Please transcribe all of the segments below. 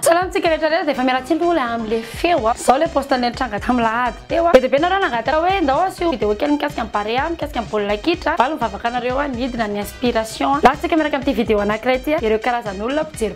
Salamtsika rehetra rehetra dia efa miala tsiny roa ilay amin'ilay feo a. Izao ilay post nitranga tamin'ny lahady teo a. Be dia be nareo nangataka hoe ndao asio video kely mikasika ny Barea, mikasika ny baolina kitra. Valo ny vavaka anareo a, nidina ny inspiration a. Latsaka miaraka amin'ity video anankiray ity a, ireo karazan'olona mpijery.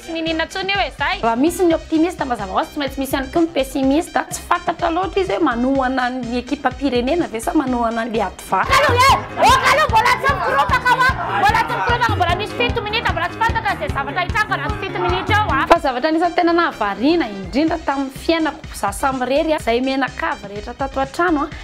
Tsy niniana intsony io e zay. Raha misy ny optimiste mazava hoazy tsy maintsy misy ihany koa ny pessimiste. Tsy fantatra loatra izy hoe manohana an'ny ekipam-pirenena ve sa manohana an'ilay adva. Kalo e! Oh kalo mbola tsy mikoropaka aho an! Mbola tsy mikoropaka mbola misy fito minitra mbola tsy fantatra izay zavatra hitranga raha tsy fito minitra eo an! Fa zavatra anisan'ny tena nahavariana indrindra tamin'ny fiainako za samirery an! Izay mianakavy rehetra tato an-trano an!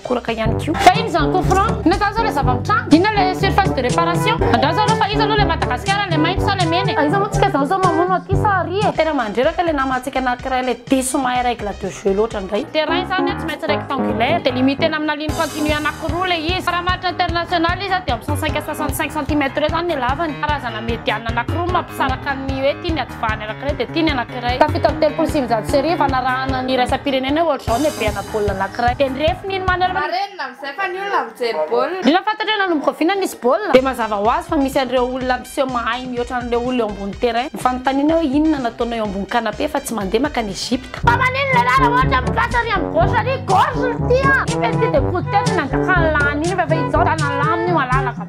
koraka ihany koa. Fa ino izany coup franc? Inona izany zao ilay zava-mitranga? Inona ilay surface de réparation? Andrao zareo fa iza aloha ilay Madagasikara, ilay mainty sa ilay mena e? Aiza moa tsika izany zao mamono aty sa ary e? Tena mandreraka ilay namantsika anankiray ilay diso mahay règle de jeu loatra indray. Terrain izany a tsy maintsy rectangulaire dia limiter-na amina ligne continue anankiroa ilay izy. Faramaritra international izy a dia amin'ny cent cinq à soixante cinq centimètres eo izany ny halavany. Karazana mediane anankiroa no mampisaraka ny hoe ity ny. Fa ny anankiray dia tia ny anankiray. Tafita amin'ny telopolo sy sivinjato sy arivo, hanarahana ny iraisam-pirenena ohatr'izao ny habenà baolina anankiray. Dia nirefy ny manerana. Marenina amin'izay fa ny olona mijery baolina. Indrindra fa hatratr'io nanomboka oviana nisy baolina, dia mazava ho azy fa misy an'ireo olona miseho mahay mihoatra an'ireo olona eo ambony terrain. Ny fanontaniana hoe inona no ataonao eo ambony canapé fa tsy mandeha makany Egypta. Fa maninona ilay anarana ohatra amin'ny droite ary amin'ny gauche ary? Gorge no tia! Iny ve tsy dia koto tena nanjakany lany iny fa efa izao tanany lamina io malalaka be.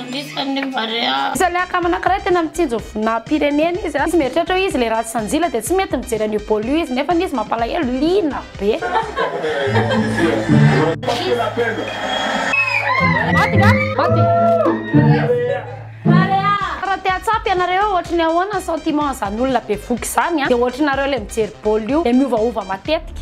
Anisan'ny Barea. Isaliaka am anakiray tena mitsinjo vinam pirenena izy izy mieritreritra hoe izy le ratsy sanjila de tsy mety mijery an'io bol io izy nefany izy mampalahelo liana be. Maty nga? Maty. Raha te hatsapa ianareo hoe ohatry ny ahoana ny sentiment an'izany olona bevohoka izany dia ohatry nareo ilay mijery baolina io dia miovaova matetika.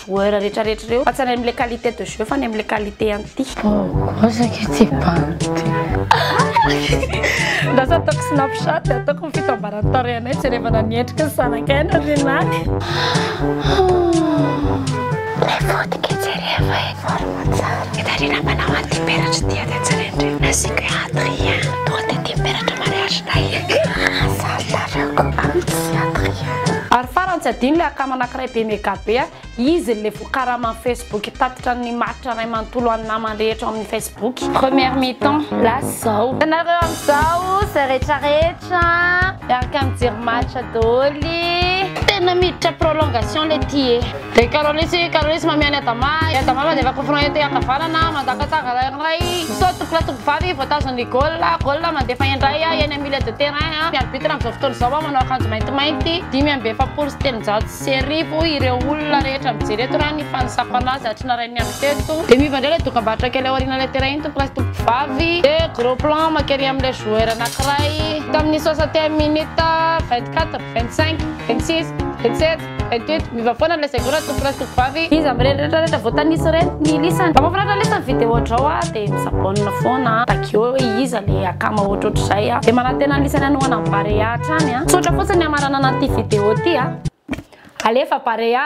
joueur rehetra rehetra ireo fa tsy any amin'ilay qualité de jeu fa any amin'ilay qualité anti Bozaka tsy bandy. Lasa ataoko snapchat dia ataoko ny fitambaran'ny tarehinay jerevana ny endriky ny zanakay any aorianany. Ilay vodika jereva eny Varomantsary. Ny tarehinà mpanao anti-peratra dia dia jerendreo. Nasiako hoe Adrien, tonga dia dimy peratra mariage-nay. Hahasahy ny tarehinao amin'i Adrien. Ary farany tsy adino ilay akamanà. Très be mega be a! Izy le vokaraman'ny facebook tatitra ny maritra ray manontolo an'ny namany rehetra ao amin'ny facebook. Première mi temps lasa zao. Ianareo amizao zay retraretra miaraka mijery match doly. Tena miditra prolongation le ty e. Ry Carolysy, Carolysy mamia an'i Adama, i Adama mandefa coup franc ety ankavanana, mandaka tsara rairay, misaoty tompolahy tompovavy, voatazon'ny goal, goal, mandefa indray, eny amin'ny. Milieu de terrain, ny arbitre amin'izao fotoana izao manao akanjo maintimainty, dimy amby efapolo sy telonjato sy arivo ireo olona rehetra mijery eto raha ny fanisako an'azy hatry ny narahin'ny andro teto. Dia miova indray ilay dokam-barotra kely ao aorianan'ilay terrain iny tompon'ilay tovovavy, dia gros plan maka ery amin'ilay joueur anankiray tamin'ny soixantième minute, vingt quatre, vingt cinq, vingt six, vingt sept. Ento ento, miova foana ny lazaiko raha tompolahy sy tompovavy. Iza amin'ireny rehetra rehetra voatanisa ireny no ilisany? Raha mahafinaritra lesy ny video drao a dia mi s'abonne foana a! Tagio eo hoe iza le akama ohatrohatr'izay a! Dia manantena ny lisany hanohana an'i Barea hatrany a! Tsotra fotsiny ny hamaranana an'ity video ity a! Alefa Barea!